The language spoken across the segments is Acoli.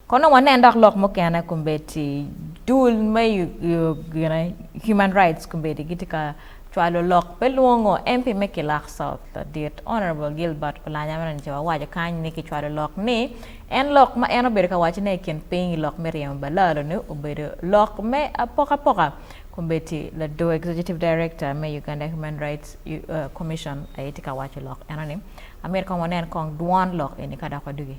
Kono wanen dok lok mukene kombeddi dul me Human Rights kombeddi gitye ka cwalo lok me lwongo MP me Kilak South ladit Honourable Gilbert Olanya meno nice wawaco kany ni kicwalo lok ni en lok ma en obedo ka wacone i kin piny i lok me ryemo balalo-ni obedo lok me apokapoka kombeddi lador Executive Director me Uganda Human Rights Commission aye tye ka waco lok eno ni amyero kong wanen kong dwon lok eni ka dok wadugi.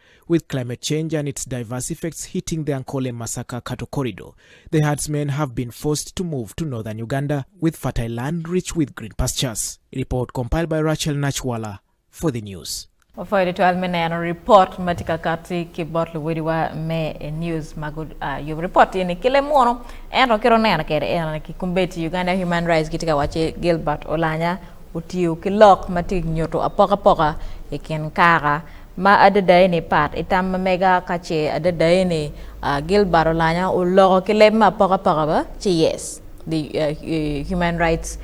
With climate change and its diverse effects hitting the Ankole Masaka cattle corridor, the herdsmen have been forced to move to northern Uganda with fertile land rich with green pastures. A report compiled by Rachel Nachwala for The News. Wapwoyo tutwal me neno ripot ma tye ka katti ki bot luwodiwa me news ma guyubo ripot eni ki leb muno ento kit oneno kwede en aye ki kombeddi Uganda Human Rights gitye ka wacce Gilbert Olanya otiyo ki lok ma tye nyuto apokapoka i kin kaka Ma adadai ni pat i tam ma mega ka ce adadai ni Gilbert Olanya oloko ki leb ma apokapoka ba ci yes the human rights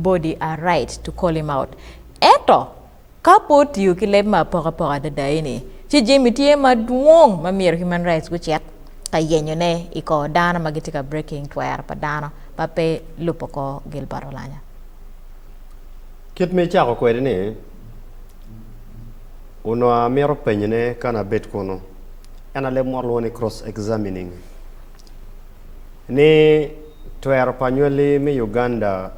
body are right to call him out ento ka pe otiyo ki leb ma apokapoka adadai ni ci jami tye madwong ma myero human rights gucit ka yenyo ne i kor dano ma gitye ka breaking twero pa dano ma pe lubo kor Gilbert Olanya. Kit ma icako kwede ni. onongo amito penyone ka an abed kunu, ento leb mot lwongo ni cross-examining, ni twero pa anywali me Uganda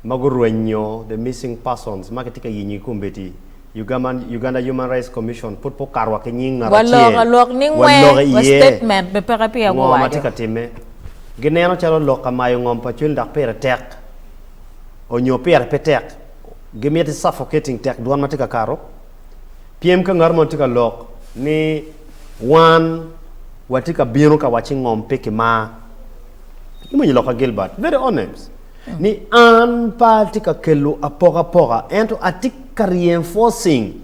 ma gurwenyo the missing persons ma kitye ka yenyigi kombeddi, Uganda Human Rights Commission pud pe okato wa ki nying ngat acel, walok alok ni nge, ngo ma tye ka timme, gineno calo lok ka mayo ngom pa cwiny dok pire tek onyo pire pe tek. gimiti suffocating tek dwan matye ka kato pyem ka ngat mo tye ka lok ni wan watye ka bino ka waci ngom pe ki mar imwonyo lok ka Gilbert very honest ni an pe atye ka kelo apoka apoka ento atye ka reinforcing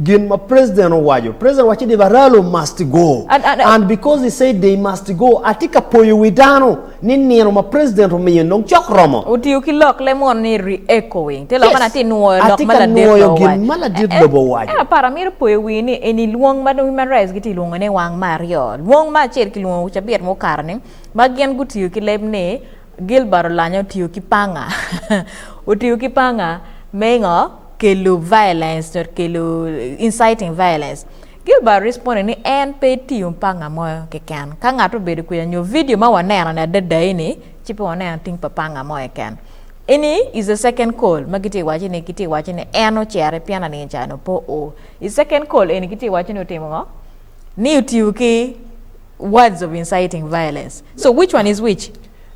Gin ma president owaco. President owaco ni Baralo must go And- and- and because he said they must go atye ka poyo wi dano ni nino ma president omiyo ni dong cok romo. Otiyo ki lok le munu ni re-echoing. Te lok Yes. man atye nwoyo lok Atye ma ka ladit nwoyo lobo gin owaco. ma ladit Eh, eh, lobo owaco. Ento aparo amito poyo wii ni eni lwong ma dong Human Rights gitye lwongo ne wang me aryo. Lwong ma acel kilwongo cabit mukato ni ma gin gutiyo ki leb ni Gilbert olanya otiyo ki panga otiyo ki panga me ngo kelo violence nyo kelo inciting violence Gilbert responded ni en pe etiyo panga mo keken ka ngat obedo kwica nyo video ma waneno ni adada eni ci pe waneno ating pa panga mo keken eni is a second call ma gitye waco ni gitye waco ni en ocere pien aningo ca nongo pe oo i second call eni gitye waco ni otimo ngo ni otiyo ki Words of inciting violence. So which one is which?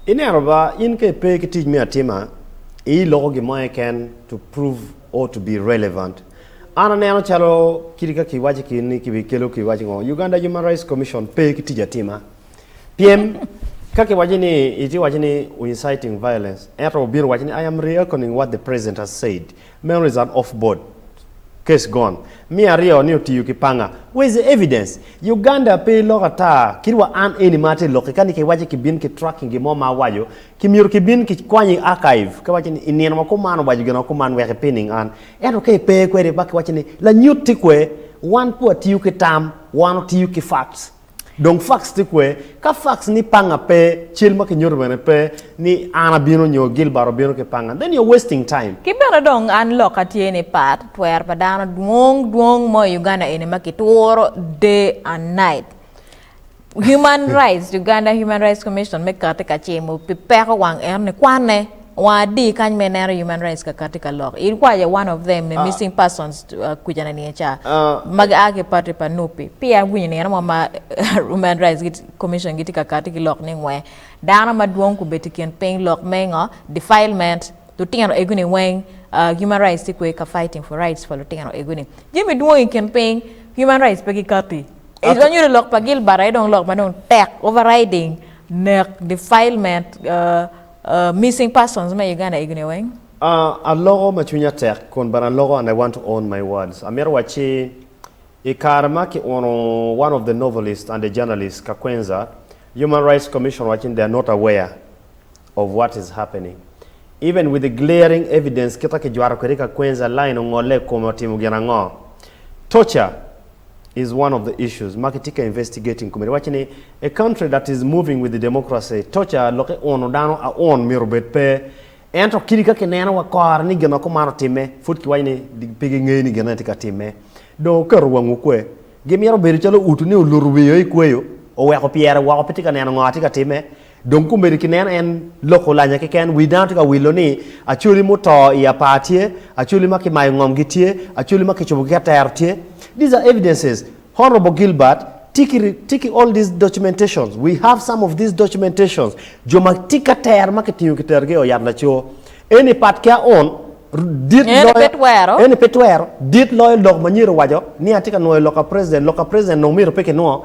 Ineno ba, in ka ipe ki tic me atima, ii loko gin mo keken to prove or to be relevant. An aneno calo kit ka kiwaci ki ni kibi kelo ki waci ngo, Uganda Human Rights Commission pe ki tic atima. Pien ka kiwaci ni iti waci ni u inciting violence, ento obino waci ni I am reoconing what the president has said. Meno is an off board. Case gone. Miyo aryo ni otiyo ki panga. Where is the evidence? Uganda pe lok ata kit wa an eni ma atye loki kani ki waci ki bin ki tracking gin mo ma awaco ki myero ki bin ki kwanyi i archive ka waci ni i nino ma kuman owaco gin ma kuman wek i pinning an ento ka i pe kwede ba ki waci ni lanyut ti kwe wan pu atiyo ki tam wan otiyo ki facts. Dong fax tye kwer? Ka fax ni panga pe, cal ma kinyuto bene pe, ni an abino nyo Gilbert obino ki panga, then you're wasting time. Ki bene dong an lokka tye ni part twer pa dano dwong dwong mo i Uganda eni ma kituro day and night. Human rights, Uganda Human Rights Commission me kati ka cimo pi peko wang eno ni kwane. Wang adi kany ma ineno human rights kaka tye ka lok? In wa ya one of them me missing persons uh, kuca na niye ca Ah, ma gia ki party pa nup pi pi an winyo nino mo ma human rights git- commission gitye ka kati ki lok ni ngwe dano madwong kubet i kin piny lok me ngo defilement lutino ego ni weng ah, human rights tye kwe ka fighting for rights pa lutino ego ni jami dwong i kin piny human rights pe gikati I Ato- dong nyuto lok pa Gilbert aye dong lok ma dong tek overriding nek defilement ah, Missing persons me Uganda Igine weng. A aloko ma cwinya tek kun bene aloko and I want to own my words. Amito wacci i kare ma ki uno one of the novelist and a journalist Kakwenza, Human Rights Commission wacci ni they are not aware of what is happening. Even with the glaring evidence kita ki jwato kwede Kakwenza, line ongolle i kome otimo gin ango? Torture! is one of the issues ma kitye ka investigating kome. Iwacce ni a country that is moving with the democracy, torture lok i uno dano a un myero obed pe. Ento kidi ka kineno wa kore ni gin ma kuman otimme, pud kiwaco ni pe gingeyo ni gin ane tye ka timme. Dong oketo wangwu kwe. Gimyero obedo calo utu ni oluto wiye o i kweyo, oweko pyere woko pe tye ka neno ngo a tye ka timme. Dong kumeni ki nen en loko lanya keken, wi dano tye ka wilo ni, Acholi muto i apar tye, acholi ma kimayo ngomgi tye, acholi ma kicubogi ki atero tye. These are evidences, Honourable Gilbert, tye ki all these documentations, we have some of these documentations, jo ma tye ki atero ma kitingo kiterogi i ot yat laco. Eni pat ki aon, dit Eni loyo, pe twero. eni pe twero, dit loyo lok ma Nyeri owaco ni atye ka nwoyo lok pa President, lok pa President nongo myero pe kinwongo,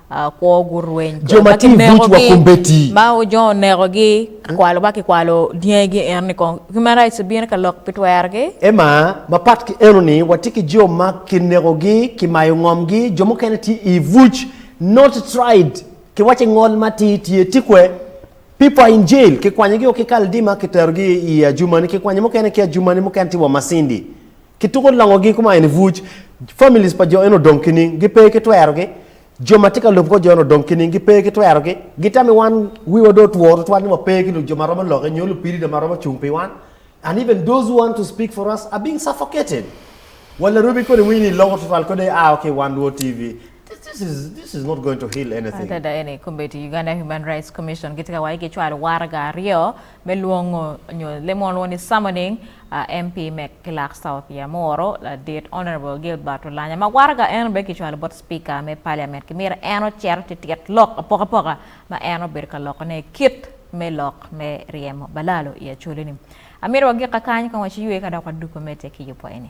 Jo ma tye i bucwa kong beti. Emma, Mapat ki enoni, watye ki jo ma kinekogi, kimayo ngomgi, jo mukene tye i buc, not tried, kiwaco i ngol matir, tye tikwe, people are in jail, kikwanyogi o ki Kaldima kiterogi i ajumani, kikwanyo mukene ki ajumani, mukene tye wa Masindi. Kituko longogi kuma en ibuc. Families pa jo eno odong kining? Gipe ki twerogi. Jo ma tye ka lub kor jo eno odong kining? Gipe ki twerogi. Gitammi wan wiwa dong otwo tutwal ni wape ki lujo ma romo lokke nyo lupirida ma romo cung pi wan. And even those who want to speak for us are being suffocated. Wa larubi kodi winyi ni iloko tutwal kodi aa wa ki i wan luo TV. This this is this is not going to heal anything. Adada eni kombeddi Uganda Human Rights Commission gitye ka waco gicwalo waraga aryo me lwongo nyo lemonwa ni Summoning, a MP me Clark South ya Moro ladit Honourable Gilbert Olanya ma waraga en obed ki cwalo bot Speaker me Parliament ki myero en ocero titit lok apokapoka ma en obedo ka loko ne kit me lok me ryemo balalo i Acholi ni. Amito wagik kakany kong waci ywe ka dok wadugo mete ki yubo eni.